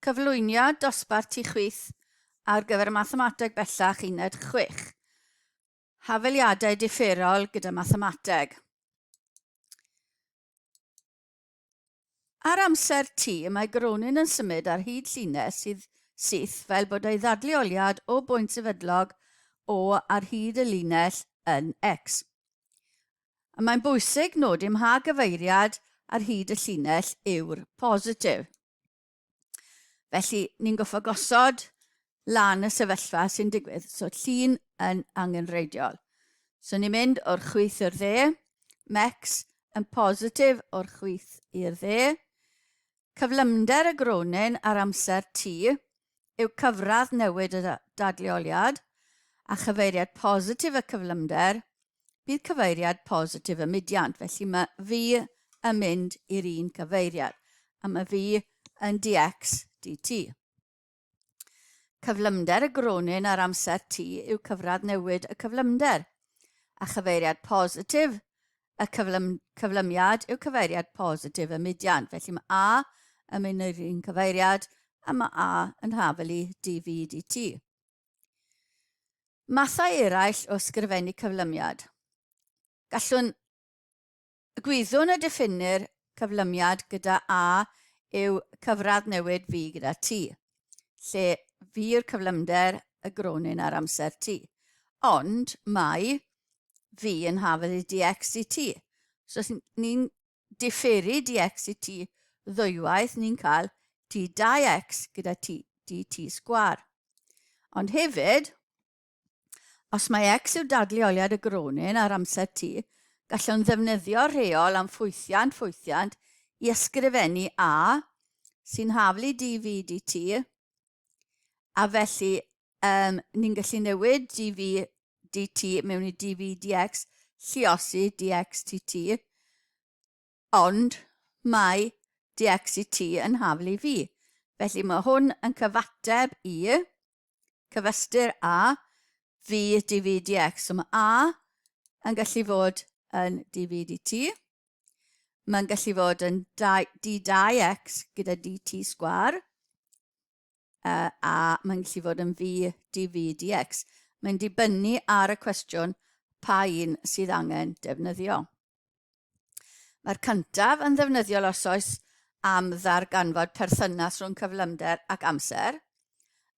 Cyflwyniad dosbarth Ti Chwith ar gyfer Mathemateg Bellach Uned Chwech. Hafeliadau differol gyda mathemateg. Ar amser T, mae Gronin yn symud ar hyd llinell sydd syth fel bod ei ddadleoliad o bwynt sefydlog O ar hyd y linell yn X. a mae'n bwysig nodi ym mha gyfeiriad ar hyd y llinell yw'r positif. Felly, ni'n goffa gosod lan y sefyllfa sy'n digwydd, so llun yn angenreidiol. So ni'n mynd o'r chwyth i'r dde, mex yn positif o'r chwyth i'r dde. Cyflymder y gronin ar amser t yw cyfradd newid y dadleoliad, a chyfeiriad positif y cyflymder Bydd cyfeiriad positif y mudiant, felly mae V yn mynd i'r un cyfeiriad, a mae V yn dx dt. Cyflymder y gronyn ar amser t yw cyfradd newid y cyflymder, a chyfeiriad positif y cyflym, cyflymiad yw cyfeiriad positif y mudiant, felly mae A yn mynd i'r un cyfeiriad, a mae A yn hafelu dv dt. Mathau eraill o ysgrifennu cyflymiad. Gallwn y gwyddwn y diffinnir cyflymiad gyda A yw cyfradd newid fi gyda ti, lle fi yw'r cyflymder y gronyn ar amser ti. Ond mae fi yn hafedd i dx i ti. So ni'n diferu dx i ti ddwywaith ni'n cael t dau x gyda t dt sgwar. Ond hefyd, os mae x yw dadleoliad y gronin ar amser t, gallwn ddefnyddio'r rheol am ffwythiant ffwythiant i ysgrifennu a, sy'n haflu dv dt, A felly, um, ni'n gallu newid dv dt mewn i dv dx, lliosi dx tt, ond mae dx i t yn haflu i fi. Felly mae hwn yn cyfateb i cyfystyr a fi dv dx. So mae a yn gallu fod yn dv dt. Mae'n gallu fod yn d dau x gyda dt sgwar, uh, a mae'n gallu fod yn fi dv dx. Mae'n dibynnu ar y cwestiwn pa un sydd angen defnyddio. Mae'r cyntaf yn ddefnyddiol os oes am ddarganfod perthynas rhwng cyflymder ac amser,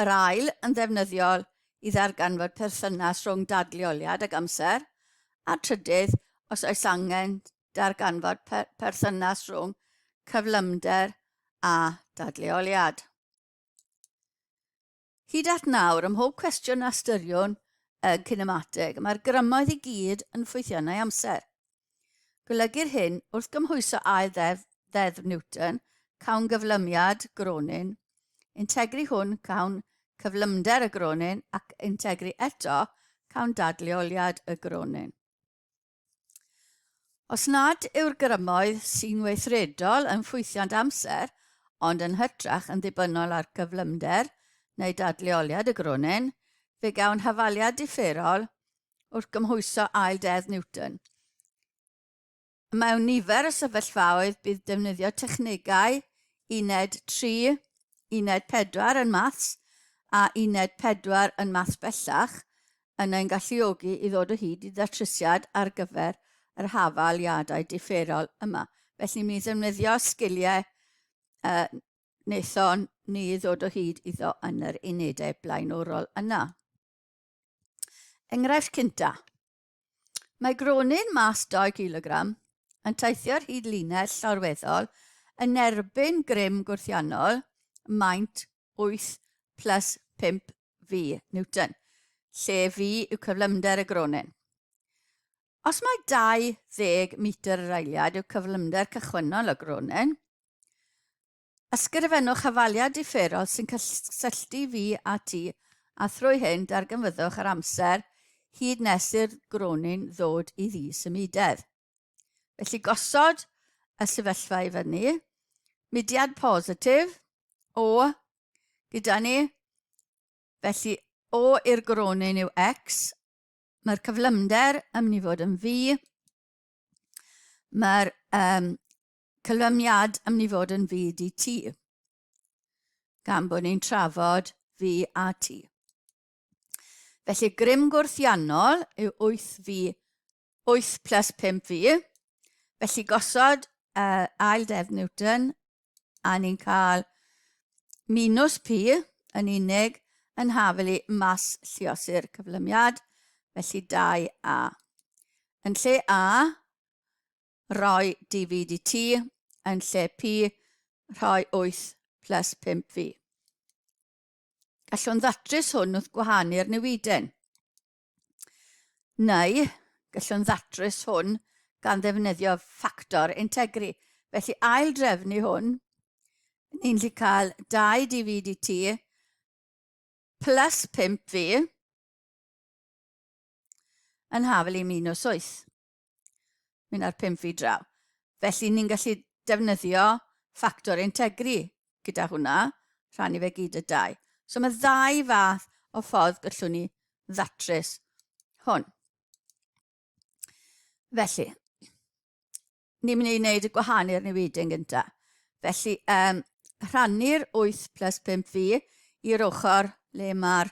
Yr ail yn ddefnyddiol i ddarganfod perthynas rhwng dadleoliad ac amser, a'r trydydd, os oes angen, darganfod perthynas rhwng cyflymder a dadleoliad. Hyd at nawr, ym mhob cwestiwn a ystyriwn y cinemateg, mae'r grymoedd i gyd yn ffwythiannau amser. Golygu'r hyn, wrth gymhwyso ail ddeddf, ddeddf Newton, cawn gyflymiad gronyn, integri hwn cawn cyflymder y gronyn ac integri eto cawn dadleoliad y gronyn. Os nad yw'r grymoedd sy'n weithredol yn ffwythiant amser, ond yn hytrach yn ddibynnol ar gyflymder neu dadleoliad y gronyn, fe gawn hafaliad differol wrth gymhwyso ail deddf Newton. Mewn nifer y sefyllfaoedd bydd defnyddio technegau uned 3, uned 4 yn maths a uned 4 yn maths bellach yn ein galluogi i ddod o hyd i ddatrysiad ar gyfer yr hafaliadau differol yma. Felly mi ddefnyddio sgiliau uh, wnaethon ni ddod o hyd iddo yn yr unedau blaenorol yna. Enghraifft cynta. Mae gronyn mas 2 kilogram yn teithio ar hyd linell llorweddol yn erbyn grym gwrthiannol maint 8 plus 5 V Newton, lle V yw cyflymder y gronyn. Os mae 20 metr yr eiliad yw cyflymder cychwynnol y gronyn, Ysgrifennwch hafaliad diferol sy'n cysylltu fi a ti, a thrwy hyn darganfyddwch yr amser hyd nes i'r gronyn ddod i ddi symudedd. Felly gosod y sefyllfa i fyny, mudiad positif, o, gyda ni, felly o i'r gronyn yw x, mae'r cyflymder yn mynd i fod yn fi, mae'r um, Cyflawniad am ni fod yn fyd i ti. Gan bod ni'n trafod fi a ti. Felly grym gwrthiannol yw 8 fi, 8 plus 5 fi. Felly gosod uh, ail def Newton a ni'n cael minus pi yn unig yn hafel i mas lliosi'r cyflymiad, felly 2a. Yn lle a, rhoi DVD i ti yn lle pi rhoi 8 plus 5 fi. Gallwn ddatrys hwn wrth gwahanu'r newiden. Neu, gallwn ddatrys hwn gan ddefnyddio ffactor integri. Felly ail drefnu hwn, ni'n lli cael 2 DVDT plus 5 fi yn hafel i minus 8. Mynd ar pum feet draw. Felly ni'n gallu defnyddio ffactor integri gyda hwnna, rhannu fe gyd y dau. So mae ddau fath o ffordd gallwn ni ddatrys hwn. Felly, ni'n mynd i wneud y gwahanu ar newid yn gyntaf. Felly, um, rhannu'r 8 plus 5 fi i'r ochr le mae'r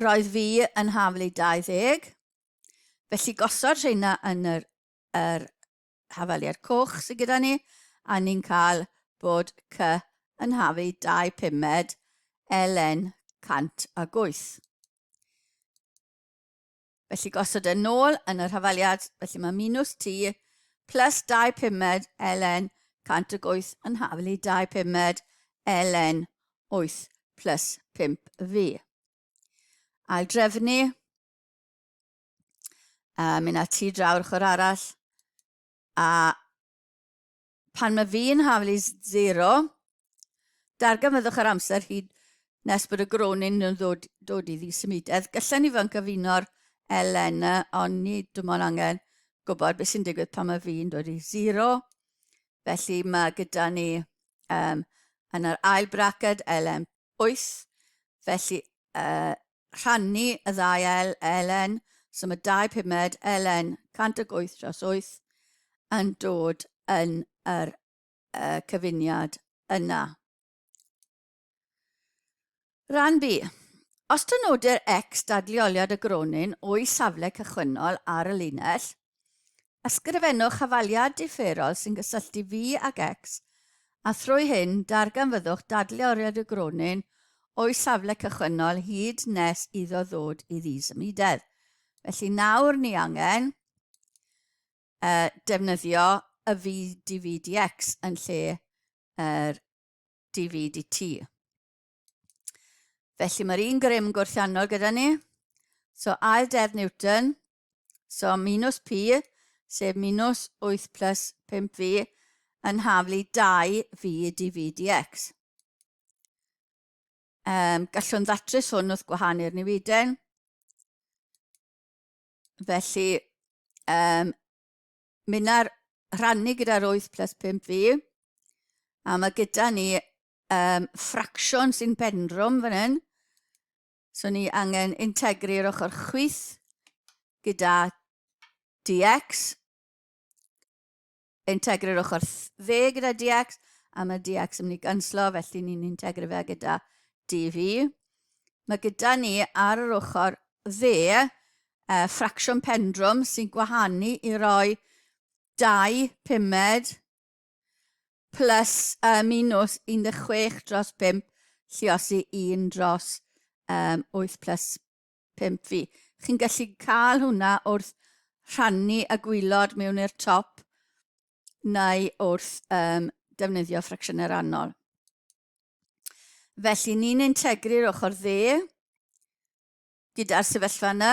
Roedd fi yn haflu 20, felly gosod rheina yn yr, yr hafaliad coch sydd gyda ni, a ni'n cael bod C yn haflu 2 pumed LN 108. Felly gosod e'n nôl yn y rhafaliad, felly mae minus t plus 2 pumed ln 108 yn haflu 2 pumed ln 8 plus 5v. Ail drefnu, a mynd â ti draw'r ochr arall, a Pan mae V yn haflu 0, darganfyddwch yr amser hyd nes bod y gronin yn ddod, dod i ddisymudedd. Gallai ni fod yn cyfuno'r ln, ond ni dim ond angen gwybod beth sy'n digwydd pan mae V yn dod i 0. Felly mae gyda ni um, yn yr ail braced ln Wyth, felly yy rhannu y ddau el, elen, so mae dau pumed, elen, 108 dros 8, yn dod yn yr uh, cyfuniad yna. Rhan B. Os dynodir x dadleoliad y gronyn o'i safle cychwynnol ar y linell, Ysgrifennwch hafaliad differol sy'n cysylltu fi ag X, a thrwy hyn darganfyddwch dadleoriad y gronyn o'i safle cychwynnol hyd nes iddo ddod i ddisymudedd. Felly nawr ni angen uh, defnyddio y VDVDX yn lle yr DVDT. Felly mae'r un grym gwrthiannol gyda ni. So ail deddf Newton, so minus P, sef minus 8 plus 5V, yn haflu 2V dv dx. Um, gallwn ddatrys hwn wrth gwahanu'r newiden. Felly, um, mynd ar rhannu gyda'r 8 plus 5V, a mae gyda ni um, ffracsiwn sy'n bendrwm fan hyn. So ni angen integru'r ochr chwyth gyda dx, integru'r ochr dde gyda dx, a mae dx yn mynd i ganslo, felly ni'n integru fe gyda dv. Mae gyda ni ar yr ochr dde uh, ffracsiwn pendrwm sy'n gwahanu i roi dau pumed plus uh, minus 16 dros 5 lliosi 1 dros um, 8 plus 5 fi. Chi'n gallu cael hwnna wrth rhannu y gwylod mewn i'r top neu wrth um, defnyddio ffracsiynau rannol. Felly ni'n integru'r ochr dde gyda'r sefyllfa yna.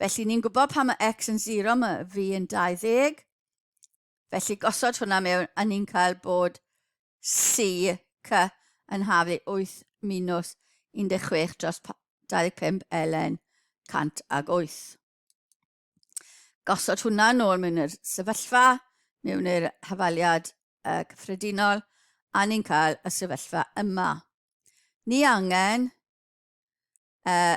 Felly ni'n gwybod pan mae x yn 0 mae fi yn 20. Felly gosod hwnna mewn a ni'n cael bod C, C yn hafu 8 minus 16 dros 25 ln 108. Gosod hwnna nôl mewn yr sefyllfa, mewn yr hafaliad uh, cyffredinol, a ni'n cael y sefyllfa yma. Ni angen uh,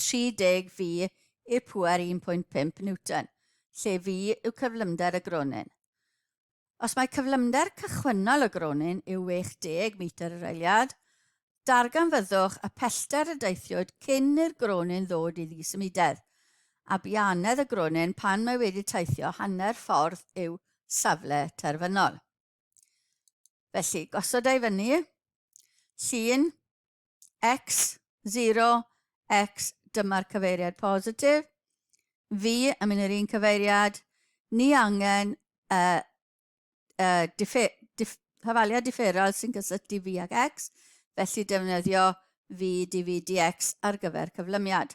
30 fu y pŵer 1.5 Newton, lle fu yw cyflymder y gronyn. Os mae cyflymder cychwynnol y gronyn yw 60 metr yr eiliad, darganfyddwch y pellter y deithiwyd cyn i'r gronyn ddod i ddisymudedd, a bianedd y gronyn pan mae wedi teithio hanner ffordd i'w safle terfynol. Felly, gosod e i fyny, llun X, 0, X, dyma'r cyfeiriad positif. V, yn mynd i'r un cyfeiriad, ni angen uh, uh, diffe, dif, hafaliad differol sy'n gysylltu V ag X, felly defnyddio V, dv, dx ar gyfer cyflymiad.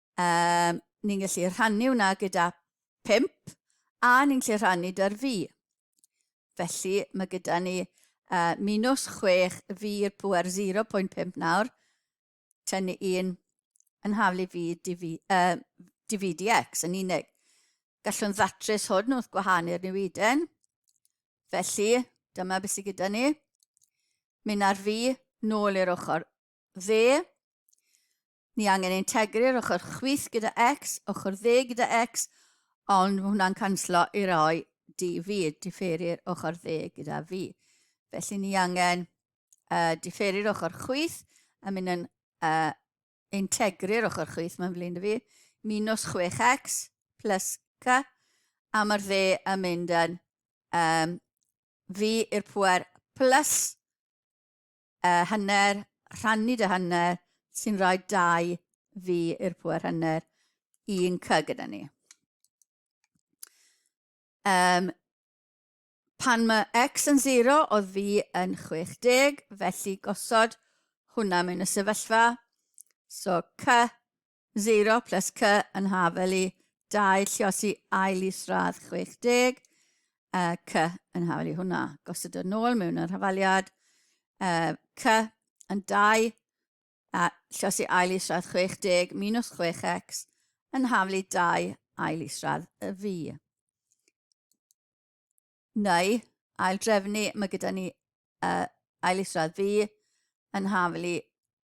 Yym, ni'n gallu rhannu hwnna gyda 5 a ni'n gallu rhannu dy'r fi. Felly mae gyda ni uh, minus 6 fi i'r pwer 0.5 nawr, tynnu un yn haflu fi dv, uh, dvdx yn unig. Gallwn ddatrys hwn wrth gwahanu'r newiden. Felly, dyma beth sydd gyda ni. Mynd ar fi, nôl i'r ochr dde. Ni angen integru'r ochr chwith gyda X, ochr dde gyda X, ond mae hwnna'n canslo i roi DV, diffeiri'r ochr dde gyda V. Felly ni angen uh, diffeiri'r ochr chwith a mynd yn uh, integru'r ochr chwith, mae'n flin i fi, minus 6x plus k, a mae'r dde yn mynd yn um, V i'r pwer plus uh, hanner, rhannu dy hanner, sy'n rhoi dau fi i'r pwer hanner, un cy gyda ni. Um, pan mae x yn 0, oedd fi yn 60, felly gosod hwnna mewn y sefyllfa. So cy 0 plus Cy yn haf eli 2 lliosi ail isradd 60 uh, Cy yn haf eli hwnna. Gosod yn ôl mewn yr hafaliad uh, Cy yn 2 a lliosi ail isradd 60 minus 6x yn haflu 2 ail isradd y fi. Neu, ail drefnu, mae gyda ni uh, ail isradd fi yn haflu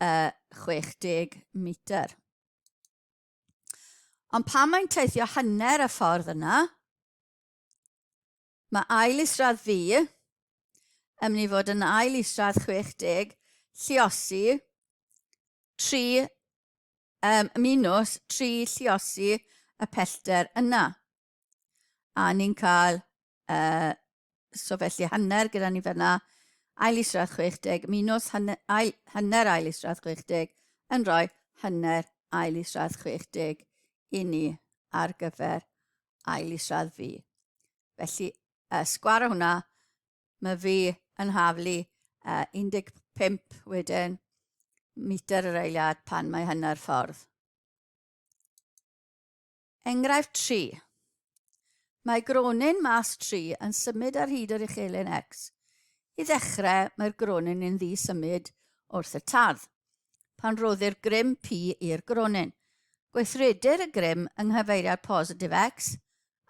uh, 60 metr. Ond pan mae'n teithio hanner y ffordd yna, mae ail isradd fi yn mynd i fod yn ail isradd 60 lliosi 3 um, minus 3 lliosi y pellter yna. A ni'n cael, uh, so felly hanner gyda ni fyna, ail isradd 60, minus hanner ail, hanner ail isradd 60, yn rhoi hanner ail isradd 60 i ni ar gyfer ail isradd fi. Felly, uh, sgwar o hwnna, mae fi yn haflu uh, 15 wedyn metr yr eiliad pan mae hanner ffordd. Enghraifft 3. Mae gronyn mas 3 yn symud ar hyd yr uchelyn X. I ddechrau, mae'r gronyn yn ddi symud wrth y tad. Pan roddir grym P i'r gronyn, gweithredir y grym yng nghyfeiriad positif X,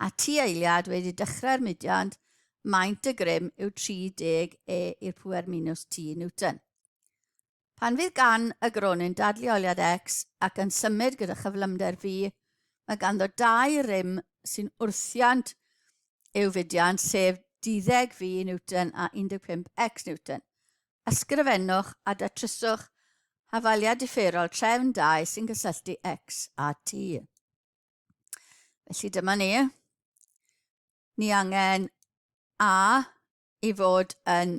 a ti eiliad wedi dechrau'r mudiad, maint y grym yw 30 E i'r pwer minus T Newton. Pan fydd gan y gronyn dadleoliad X ac yn symud gyda chyflymder V, mae ganddo dau rym sy'n wrthiant i'w fudiant, sef duddeg V Newton a 15 X Newton. Ysgrifennwch a datryswch hafaliad differol trefn dau sy'n cysylltu X a T. Felly dyma ni. Ni angen A i fod yn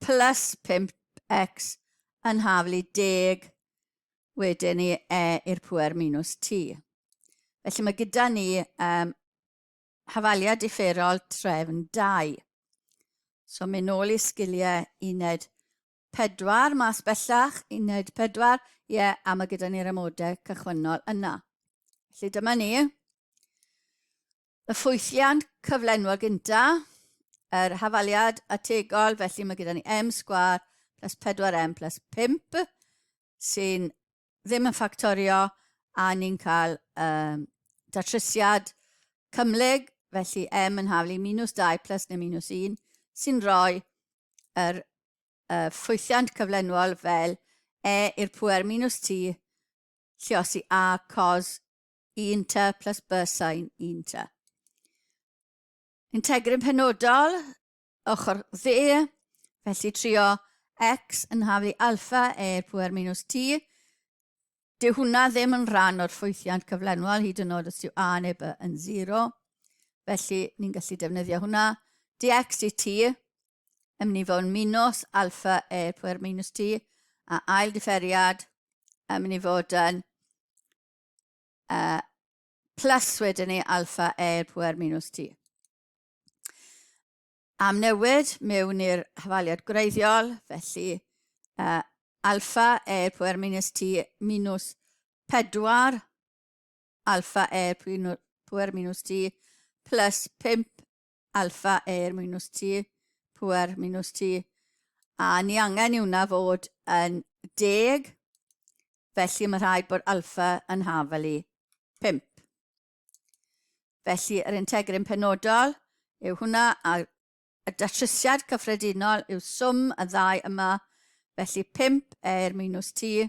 Plus 5x yn haflu 10 wedyn i e i'r pŵer minus t. Felly mae gyda ni um, hafaliad differol trefn 2. So mynd nôl i sgiliau uned 4 mas bellach, uned 4, ie, yeah, a mae gyda ni'r amodau cychwynnol yna. Felly dyma ni. Y ffwythiant cyflenwol gynta, yr hafaliad ategol, felly mae gyda ni m sgwar plus 4m plus 5 sy'n ddim yn ffactorio a ni'n cael um, datrysiad cymleg, felly m yn haflu minus 2 plus neu minus 1 sy'n rhoi yr uh, ffwythiant cyflenwol fel e i'r pwer minus t lliosi a cos un ta plus bysain un ta. Integrin penodol, ochr dde, felly trio x yn haf i alfa e pwer minus t. Dyw hwnna ddim yn rhan o'r ffwythiant cyflenwol hyd yn oed os yw a neu b yn 0. Felly, ni'n gallu defnyddio hwnna. dx i t, yn mynd i fod yn minus alfa e pwer minus t, a ail differiad yn mynd i fod yn uh, plus wedyn ni alfa e i'r pwer minus t. Am newid mewn i'r hafaliad gwreiddiol, felly uh, alfa e i'r pwer minus t minus 4 alfa e i'r pwer minus t plus 5 alfa air minus t, pŵer minus t, a ni angen i hwnna fod yn deg, felly mae rhaid bod alfa yn hafel i 5. Felly yr integryn penodol yw hwnna, a y datrysiad cyffredinol yw swm y ddau yma, felly 5 air minus t,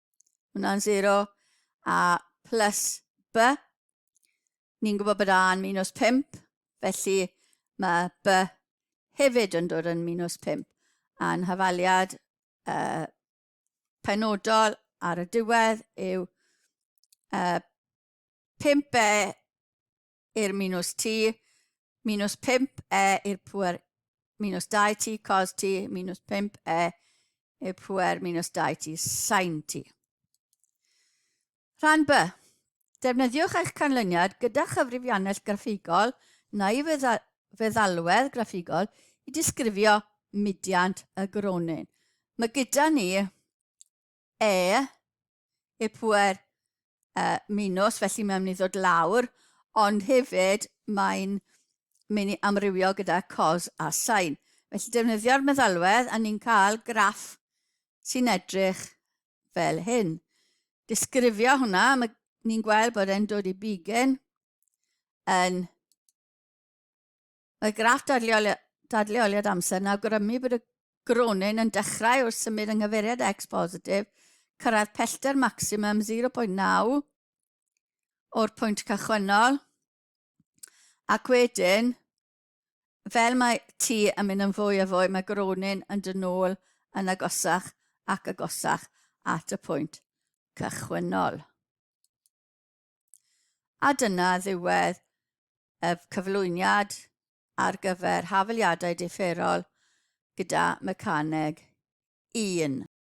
Hwna'n 0. A plus B, ni'n gwybod bod A yn minus 5, felly mae B hefyd yn dod yn minus 5. A'n hafaliad uh, penodol ar y diwedd yw uh, 5B i'r minws t, minws 5 e i'r pwer minws 2 t cos t, minws 5 e i'r pwer minws 2 t sain t. Rhan B. Defnyddiwch eich canlyniad gyda chyfrifiannell graffigol neu feddalwedd graffigol i disgrifio mudiant y gronyn. Mae gyda ni e i pŵer uh, minws, felly mae'n mynd i ddod lawr, ond hefyd mae'n mynd i amrywio gyda cos a sain. Felly defnyddio'r meddalwedd a ni'n cael graff sy'n edrych fel hyn. Disgrifio hwnna, mae ni'n gweld bod e'n dod i bigen yn Mae graff dadleoliad amser yn awgrymu bod y gronyn yn dechrau wrth symud yng nghyfeiriad X positif, cyrraedd pellter maximum 0.9 o'r pwynt cychwynnol, ac wedyn, fel mae T yn mynd yn fwy a fwy, mae gronyn yn dod nôl yn agosach ac agosach at y pwynt cychwynnol. A dyna ddiwedd y cyflwyniad ar gyfer hafaliadau diferol gyda Mecaneg un.